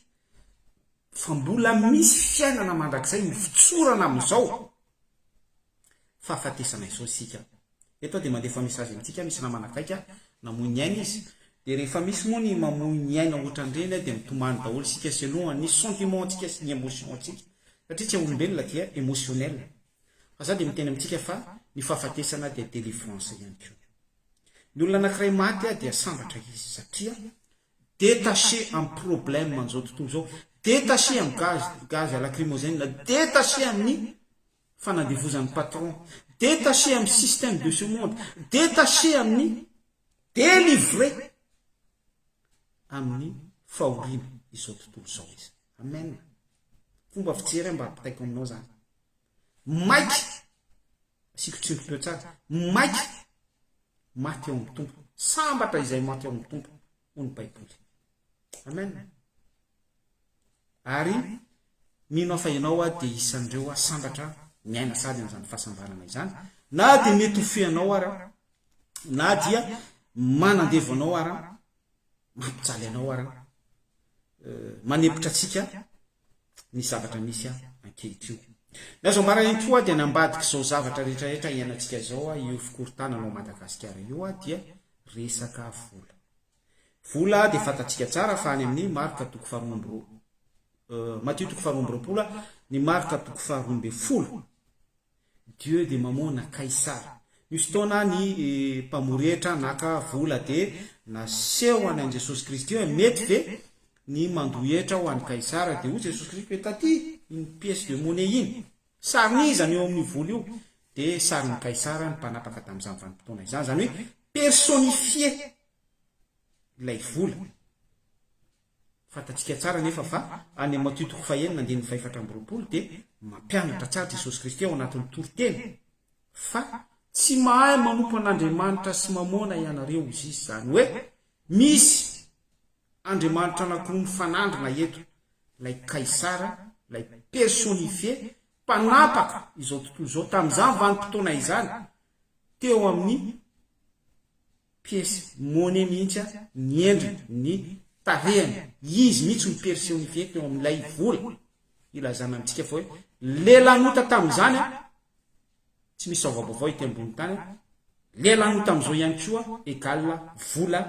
fa mbola misy fiainana mandrakizay mifotsorana amin'izao fahafatesana izao isika Eto aho dia mandefa message amintsika misy namana akaiky aho namoy ny ainy izy dia rehefa misy moa ny mamoy ny aina ohatran'ireny aho dia mitomany daholo isika selon ny sentiment ntsika sy ny emotion ntsika satria tsy olombelona dia emotionnel fa za dia miteny amintsika fa ny fahafatesana dia delivrance ihany koa ny olona anakiray maty aho dia sambatra izy satria detache am problème an'izao tontolo izao detache am gaz gaz lacrimogène detache amin'ny fanandevozan'ny patron, detacher amin'ny système de ce monde, detacher amin'ny, délivrer amin'ny fahoriana izao tontolo izao izy. Amen. Fomba fijery aho mba ampitaiko aminao zany. Maika, asiko tsindrim-peo tsara, maika maty ao amin'ny tompo, sambatra izay maty ao amin'ny tompo, hoy ny Baiboly. Amen. Ary mino aho fa ianao aho dia isan'ireo aho sambatra miaina sady amin'izany fahasambarana izany. Na dia mety ho feanao ara, na dia manandevo anao ara, mampijaly anao ara, eh, manepotra antsika, ny zavatra misy ahy ankehitriny. Ny azo ambara eto oa dia nambadika izao zavatra rehetra rehetra iainantsika izao oa io fikorontanana ao Madagasikara io oa dia resaka vola. Vola dia fantatsika tsara fa any amin'ny marka toko faharoa amby roa Matio toko faharoa amby roapolo ny marka toko faharoa ambin'ny folo Dieu de mamona kaisara. Misy fotoana ny mpamory hetra naka vola dia nasehony an'i Jesosy Kristy hoe mety ve ny mandoa hetra ho an'i Kaisara dia hoy Jesosy Kristy hoe taty iny pièce de monnaie iny. Sarin'iza ny eo amin'io vola io? Dia sarin'i Kaisara ny mpanapaka tamin'izany vanim-potoana izany. Izany hoe personnifier ilay vola. Fantatsika tsara anefa fa any amin'ny Matio toko fahenina andininy fahefatra amby roapolo dia mampianatra tsara Jesosy Kristy ao anatin'ny toriteny fa tsy mahay manompo an'Andriamanitra sy Mamôna ianareo, hoy Izy, izany hoe misy andriamanitra anankiroa mifanandrina eto, ilay Kaisara, ilay persônifie, mpanapaka izao tontolo izao tamin'izany vanim-potoana izany teo amin'ny pièce monnaie mihitsy an ny endriny, ny tarehiny, izy mihitsy no personnifié teo amin'ilay vola, ilazana amintsika fa hoe le lanota tamin'izany an, tsy misy vaovaovao ety ambony tany an, le lanota amin'izao ihany koa égal vola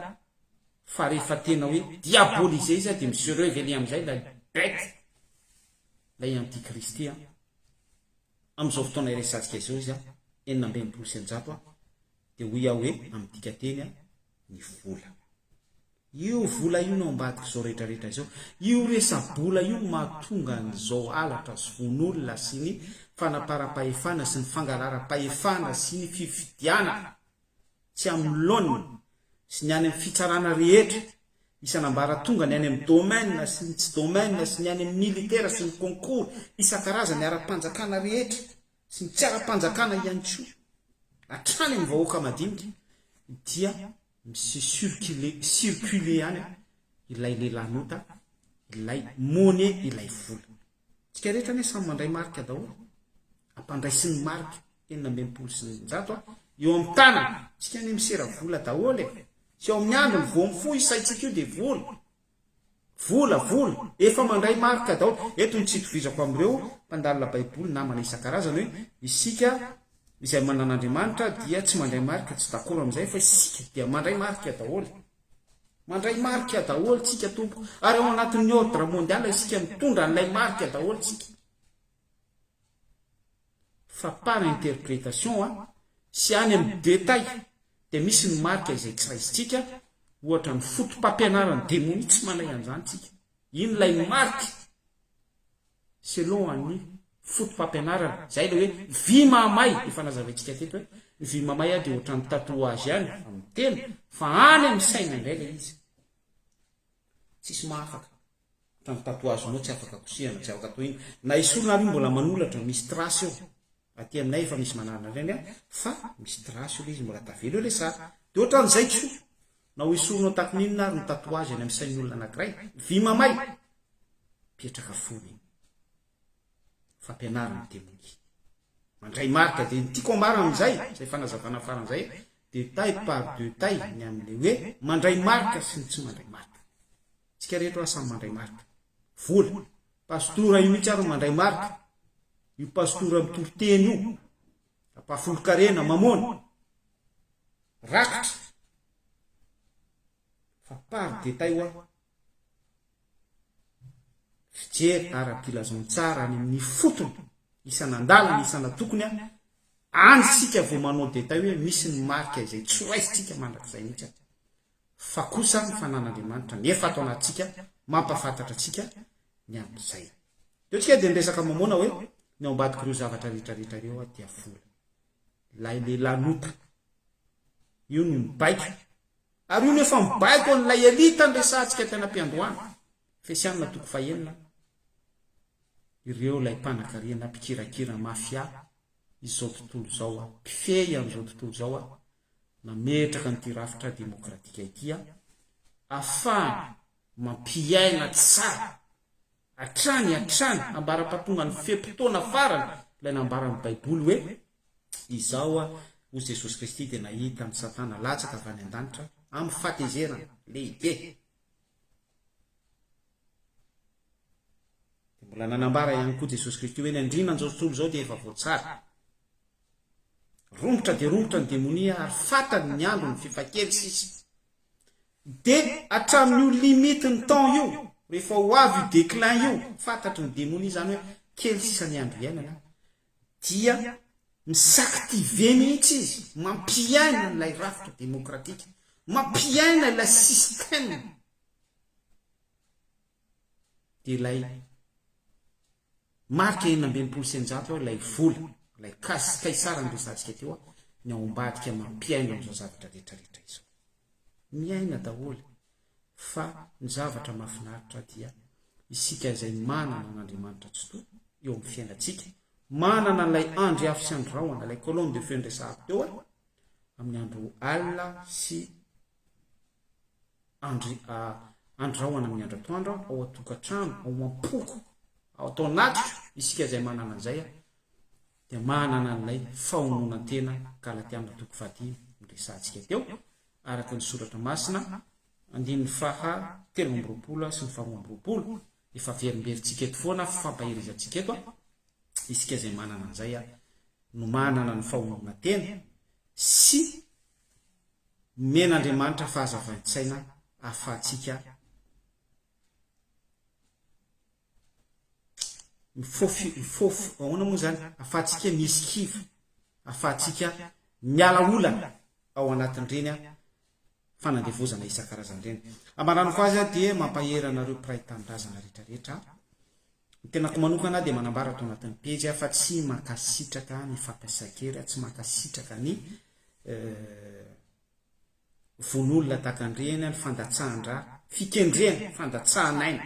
fa rehefa tena hoe diabolisé izy an dia mi se reveler amin'izay ilay bête, ilay anti-kristy an, amin'izao fotoana iresatsika izao izy an, enina amby enimpolo sy eninjato an. dia hoy aho hoe amin'ny dikanteny a, ny vola. Io vola io no ambadik'izao rehetra rehetra izao. Io resa-bola io no mahatonga an'izao halatra sy vono-olona sy ny fanaparam-pahefana sy ny fangalaram-pahefana sy ny fifidianana tsy amin'ny laoniny sy ny any amin'ny fitsarana rehetra isan'ambaratonga, ny any amin'ny domaine sy ny tsy domaine sy ny any amin'ny militaire sy ny concours isan-karazany ara-panjakana rehetra. sy ny tsy ara-panjakana ihany koa hatrany amin'ny vahoaka madinika dia mi-circuler, circuler any ilay lelanota, ilay money, ilay vola. Tsika rehetra anie samy mandray marika daholo, ampandraisin'ny marika enina amby enimpolo sy eninjato a, eo amin'ny tanana, tsika anie misera vola daholo e, tsy eo amin'ny androny vao mifoha io saintsika io dia vola. Vola, vola! Efa mandray marika daholo. Eto ny tsy itovizako amin'ireo mpandalina Baiboly namana isan-karazany hoe, isika izay manana Andriamanitra dia tsy mandray marika, tsy dakoro amin'izay, fa isika dia mandray marika daholo. Mandray marika daholo tsika tompoko, ary ao anatin'ny ordre mondial isika mitondra an'ilay marika daholo tsika. fa par interprétation a, sy any amin'ny détail dia misy ny marika izay tsy raisintsika, ohatra ny fotopampianaran'ny demonia tsy manay an'izany tsika, iny ilay marika selon an'ny fotopampianarana, izay ilay hoe vy mahamay, efa nazavaintsika teto hoe ny vy mahamay a dia ohatran'ny tatouage ihany amin'ny tena fa any amin'ny saina indray ilay izy, tsisy mahafaka. Trano tatouage nao tsy afaka kosehana tsy afaka atao inona na esorina ary io mbola manolatra misy trace eo aty aminay efa misy manarina an'ireny aho fa misy trace eo le izy mbola tavela eo le sary de ohatran'izay kisoa na ho esorinao tahaka ny inona ary ny tatouage any amin'ny sain'ny olona anankiray vy mamay mpiatraka fony iny fampianarana ny temonia mandray marika de ny tiako ambarana amin'izay izay fanazavana faran'izay de taille par de taille ny amin'ilay hoe mandray marika sy ny tsy mandray marika Tsika rehetra oa samy mandray marika. Vola. Pastora io mitsy ary no mandray marika. Io pastora mitory teny io. Apa folonkarena, mamona. Rakitra. Fa par detay oa. Fijery ara-pilazantsara any amin'ny fotony. Isan'andalana, isan'atokony a. Any sika vao manao detay hoe misy ny marika izay tsy ho raisitsika mandrakizay mitsy a. fa kosa ny fanan'Andriamanitra ny efa ato anatintsika mampahafantatra antsika ny amin'izay. Teo tsika dia niresaka momona hoe ny ao ambadik'ireo zavatra rehetra rehetra ireo aho dia vola. Ilay lehilahy nota. Io no mibaiko. Ary io no efa mibaiko an'ilay elita niresahantsika teny am-piandohana. Efesianina toko fahenina. Ireo ilay mpanakarena, mpikirakira, mafia, izao tontolo izao, mpifehy an'izao tontolo izao, nametraka an'ity rafitra demokratika ity ahafahana mampiaina tsara hatrany hatrany ambara-pahatongan'ny fe-potoana farany ilay nambaran'ny Baiboly hoe, Izao hoy Jesosy Kristy dia nahita an'i Satana latsaka avy any an-danitra amin'ny fahatezerana lehibe. Dia mbola nanambara ihany koa Jesosy Kristy hoe ny andriana an'izao tontolo izao dia efa voatsara. Romotra dia romotra ny demonia ary fantany ny androny fifakely sisa. Dia hatramin'io limite ny temps io, rehefa ho avy io declin io, fantatry ny demonia izany hoe kely sisa ny andro hiainana, dia mi-s'activer mihitsy izy, mampiaina an'ilay rafitra demokratika, mampiaina ilay système, dia ilay. Marika enina amby enimpolo sy eninjato ao ilay vola, ilay cas, ka isara ny resantsika teo aho, ny ao ambadika mampihaino an'izao zavatra retraretra izao. Miaina daholo fa ny zavatra mafinaritra dia isika izay manana an'Andriamanitra Tsitoha eo amin'ny fiainantsika, manana an'ilay Andry afo sy Andry rahona, ilay colonne de feu niresahako teo aho, amin'ny andro alina sy andrahoana amin'ny andratoandro ao an-tokantrano ao am-poko ao atao anatiko isika izay manana an'izay dia manana an'ilay fahononan-tena galatiana toko fahatelo no resahantsika teo araka ny soratra masina andininy faha telo amby roapolo sy ny faharoa amby roapolo efa verimberitsika eto foana fampaherizantsika eto isika izay manana an'izay no manana ny fahononan-tena sy Nomena Andriamanitra fahazavan-tsaina ahafahantsika mifofy, mifofy, ahoana moa izany? Ahafahantsika mi-esquive, ahafahantsika miala olana ao anatin'ireny fanandevozana isan-karazany ireny. Hamaranako azy dia mampahery anareo mpiray tanindrazana rehetrarehetra. Ny tenako manokana dia manambara ato anatin'ny pejy fa tsy mankasitraka ny fampiasan-kery, tsy mankasitraka ny vono olona dagan-dreny ny fandatsahan-dra, fikendrena, fandatsahan'aina,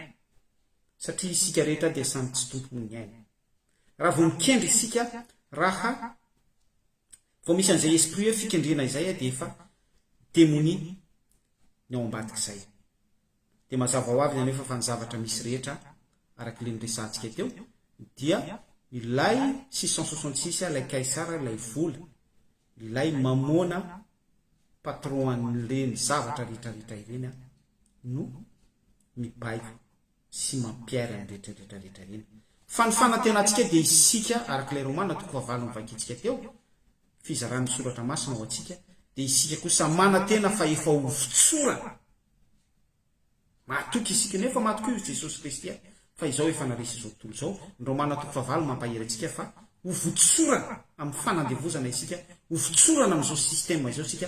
satria isika rehetra dia samy tsy tompon'ny aina. Raha vao mikendry isika, raha vao misy an'izay esprit hoe fikendrena izay dia efa demonia ny ao ambadik'izay. Dia mazava ho avy anefa fa ny zavatra misy rehetra, araka ilay niresahantsika teo, dia ilay six cent soixante six, ilay Kaisara, ilay vola, ilay Mamôna, patron an'ireny zavatra rehetrarehetra ireny, no mibaiko sy mampiairy an'ny rehetrarehetra rehetra ireny. Fa ny fanantenantsika dia isika, araka ilay Romana toko fahavalo novakintsika teo, fizaran'ny Soratra Masina ho antsika, dia isika kosa manantena fa efa ho votsorana Mahatoky isika io, nefa maty koa io Jesosy Kristy a! Fa izao efa naresy izao tontolo izao, ny Romana toko fahavalo mampahery antsika fa ho votsorana amin'ny fanandevozana isika, ho votsorana amin'izao système izao isika,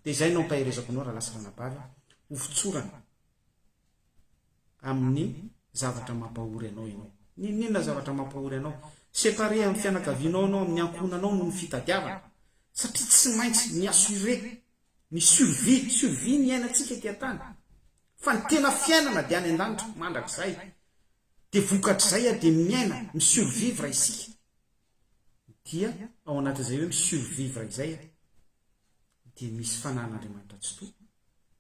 dia izay no ampaherezako anao Ralasy Ranabavy a, ho votsorana amin'ny zavatra mampahory anao ianao. N'inon'inona zavatra mampahory anao. Séparé amin'ny fianakavianao ianao, amin'ny ankohonanao noho ny fitadiavana. Satria tsy maintsy mi-assurer Ny survie, survie ny iainantsika ety an-tany, fa ny tena fiainana dia any an-danitra mandrakizay, dia vokatr'izay ary dia miaina, mi-survivre isika, dia ao anatin'izay hoe mi-survivre izay dia misy Fanahin'Andriamanitra Tsitoha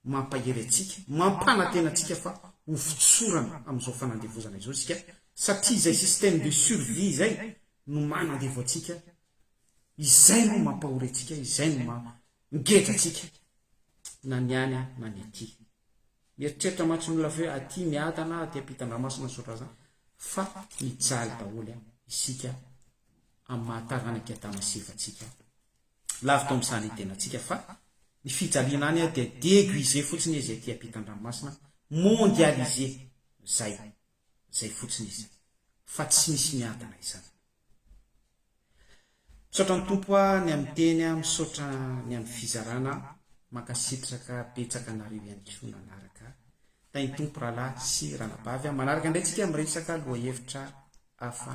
mampahery antsika, mampanantena antsika fa ho fotsorana amin'izao fanandevozana izao isika, satria izay système de survie izay no manandevo antsika Izay no mampahory antsika, izay no maha ngeja antsika na ny any na ny aty. Mieritreritra mantsy ny olona fa hoe aty miada na aty ampitan-dramasina ny sotrazany fa mijaly daholo isika amin'ny maha taranak'i Adama sy Eva antsika. Lavitra amin'ny saha ny tenantsika fa ny fijaliana any dia deguisé fotsiny izy aty ampitan-dranomasina, mondialisé izay. Zay fotsiny izy fa tsy misy miadana izany. Misaotra ny Tompo a ny amin'ny teny a misaotra ny amin'ny fizarana a mankasitraka betsaka anareo ihany koa nanaraka Tahin'ny Tompo Rahalahy sy Ranabavy a manaraka indray tsika miresaka lohahevitra hafa